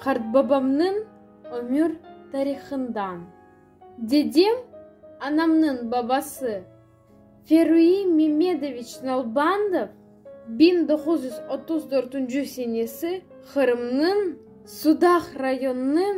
Qartbabamnıñ ömür tarihından. Dedem, anamnıñ babası, Feruiy Memedoviç Nalbandov, biñ doquz yüz otuz dörtünci senesi Qırımnıñ Sudaq rayonınıñ.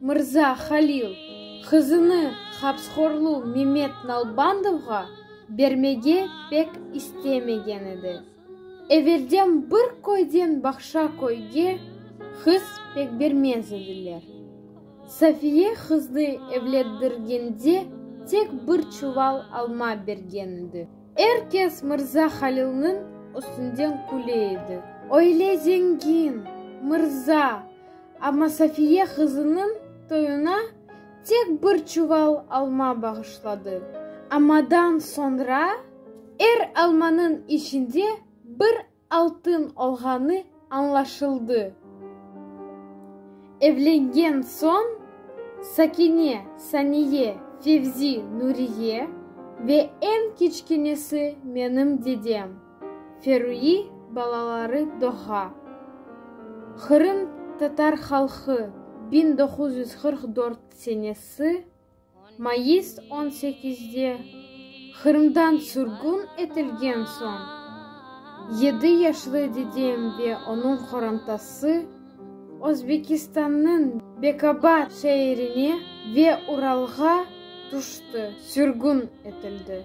Mırza Halil, qızını hapshorlu Memet Nalbandovğa bermege pek istemegen edi. Evelden bir köyden baqşa köyge qız pek bermez ediler. Safiye qıznı evletdirgende tek bir çuval alma bergen edi. Er kes mırza Halilniñ üstünden küle edi. Öyle zengin, mırza! Amma Safiye qızınıñ toyuna tek bir çuval alma bağışladı. Ammadan soñra er almanıñ içinde bir altın olğanı añlaşıldı. Evlengen soñ Sakine, Saniye, Fevzi, Nuriye ve eñ kiçkenesi menim dedem. Ferüiy balaları doğğa. Qırım tatar halqı biñ doquz yüz qırq dört senesi mayıs on sekizde Qırımdan sürgün etilgen soñ, yedi yaşlı dedem ve onıñ qorantası Özbekistannıñ Bekabad şeerine ve Uralğa tüşti, sürgün etildi.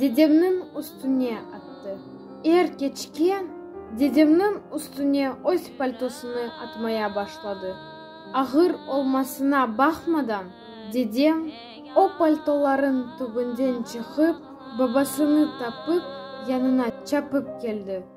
dedemniñ üstüne attı. Er keçke dedemniñ üstüne öz paltosını atmaya başladı. Ağır olmasına baqmadan, dedem, o paltolarıñ tübünden çıqıp, babasını tapıp, yanına çapıp keldi.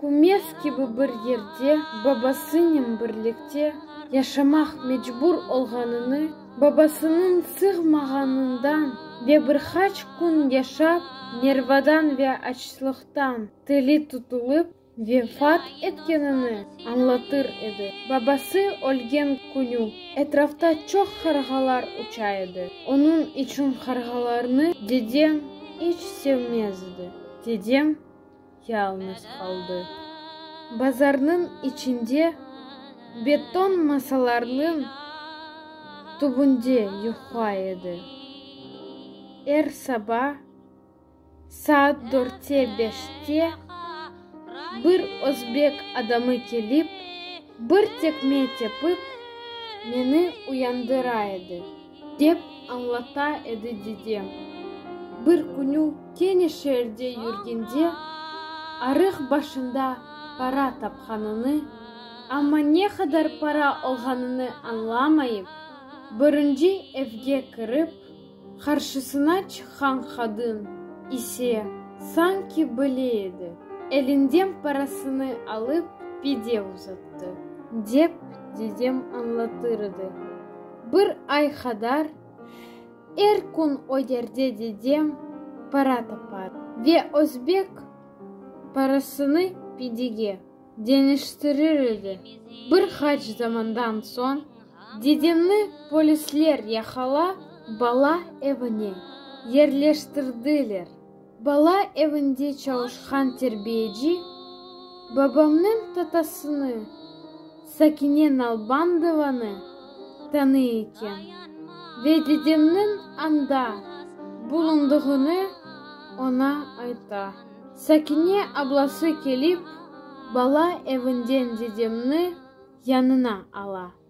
Kümes kibi bir yerde babasınen birlikte yaşamaq mecbur olğanını, babasınıñ sığmağanından ve bir qaç kün yaşap, nervadan ve açlıqtan tili tutulıp, vefat etkenini añlatır edi. Babası ölgen künü etrafta çoq qarğalar uça edi. Onıñ içün qarğalarnı dedem iç sevmez edi. Dedem. yalıñız qaldı. Bazarnıñ içinde beton masalarnıñ tübünde yuqla edi. Er saba saat dörtte-beşte bir özbek adamı kelip, bir tekme tepip, meni uyandıra edi. Dep añlata edi dede. Bir künü kene şeerde yürgende, arıq başında para tapqanını, amma ne qadar para olğanını añlamayıp, birinci evge kirip, qarşısına çıqqan qadın ise sanki bile edi, elinden parasını alıp pide uzattı, dep dedem añlatır edi. Bir ay qadar er kün öderde dedem para tapar. Ve özbek parasını pidige deñiştirir edi. Bir qaç zamandan soñ dedemni polisler yaqala bala evine yerleştirdiler. Bala evinde çalışqan terbiyeci babamnıñ tatasını, Sakine Nalbandovanı, tanıy eken ve dedemniñ anda bulundığını oña ayta. Sakine ablası kelip, bala evinden dedemni yanına ala.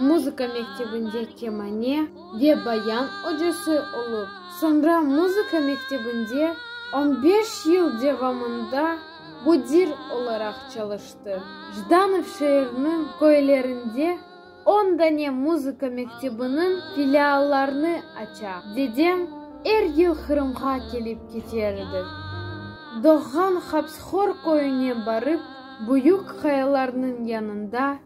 Muzıka mektebinde kemane ve bayan ocası olıp, soñra muzıka mektebinde on beş yıl devamında müdir olaraq çalıştı. Jdanov şeeriniñ köylerinde on dane muzıka mektebiniñ filiallarını aça. Dedem er yıl Qırımğa kelip keter edi. Doğğan Hapsxor köyüne barıp, büyük qayalarnıñ yanında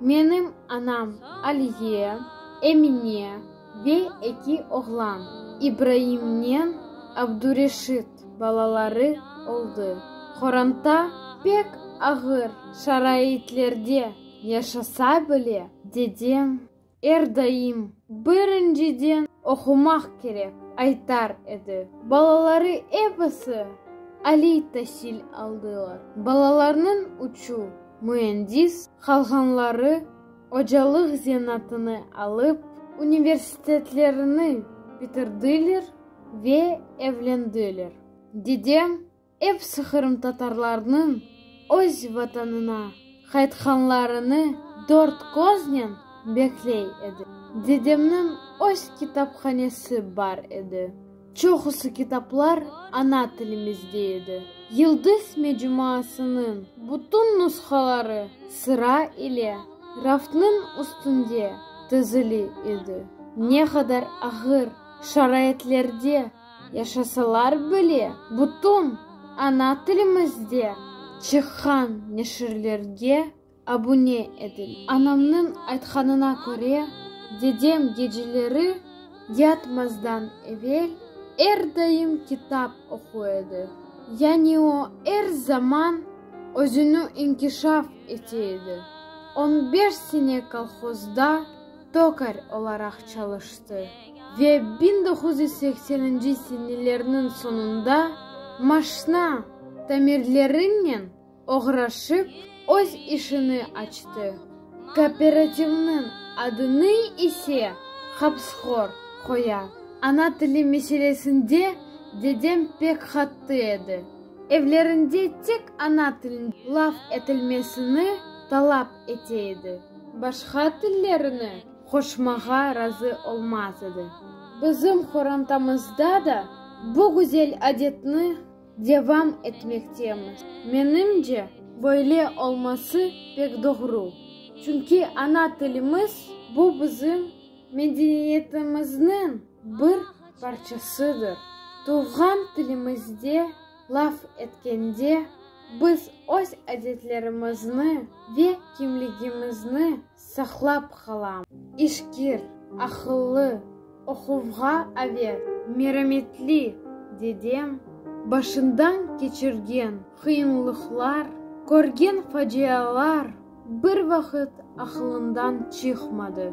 Menim anam Aliye, Emine ve eki oğlan, İbraimnen Abdureşit balaları oldı. Qoranta pek ağır şaraitlerde yaşasa bile, dedem er daim birinciden oqumaq kerek aytar edi. Balaları episi aliy tasil aldılar. Balalarnıñ uçu Müendis qalğanları ocalıq zenaatını alıp, universitetlerini bitirdiler ve evlendiler. Dedem epsi qırımtatarlarnıñ öz Vatanına qaytqanlarını dört köznen bekley edi. Dedemniñ öz kitaphanesi bar edi. Çoqusı kitaplar ana tilimizde edi. Yıldız mecuasınıñ bütün nushaları sıra ile raftnıñ üstünde tizili edi. Ne qadar ağır şaraitlerde yaşasalar bile, bütün ana tilimizde çıqqan neşirlerge Abune etil. Anamnıñ aytqanına köre, dedem geceleri yatmazdan evel er daim kitap oqu edi, yani o, er zaman özüni inkişaf ete edi. On beş sene kolhozda tokar olaraq çalıştı ve biñ doquz yüz sekseninci senelerniñ soñunda maşna tamirlerinen oğraşıp öz işini açtı, kooperativniñ adını ise Hapsxor qoya. Ana tili meselesinde dedem pek qattı edi, evlerinde tek ana tilinde laf etilmesini talap ete edi, başqa tillerni qoşmağa razı olmaz edi. Bizim qorantamızda da bu güzel adetni Devam etmektemiz. Menimce, böyle olması pek doğru. Çünki ana tilimiz, bu bizim medeniyetimizniñ bir parçasıdır. Tuvğan tilimizde laf etkende, biz öz adetlerimizni ve kimligimizni saqlap qalam. İşkir, aqıllı, oquvğa avet, merametli dedem başından keçirgen qıyınlıqlar, körgen facialar bir vaqıt aqılından çıqmadı.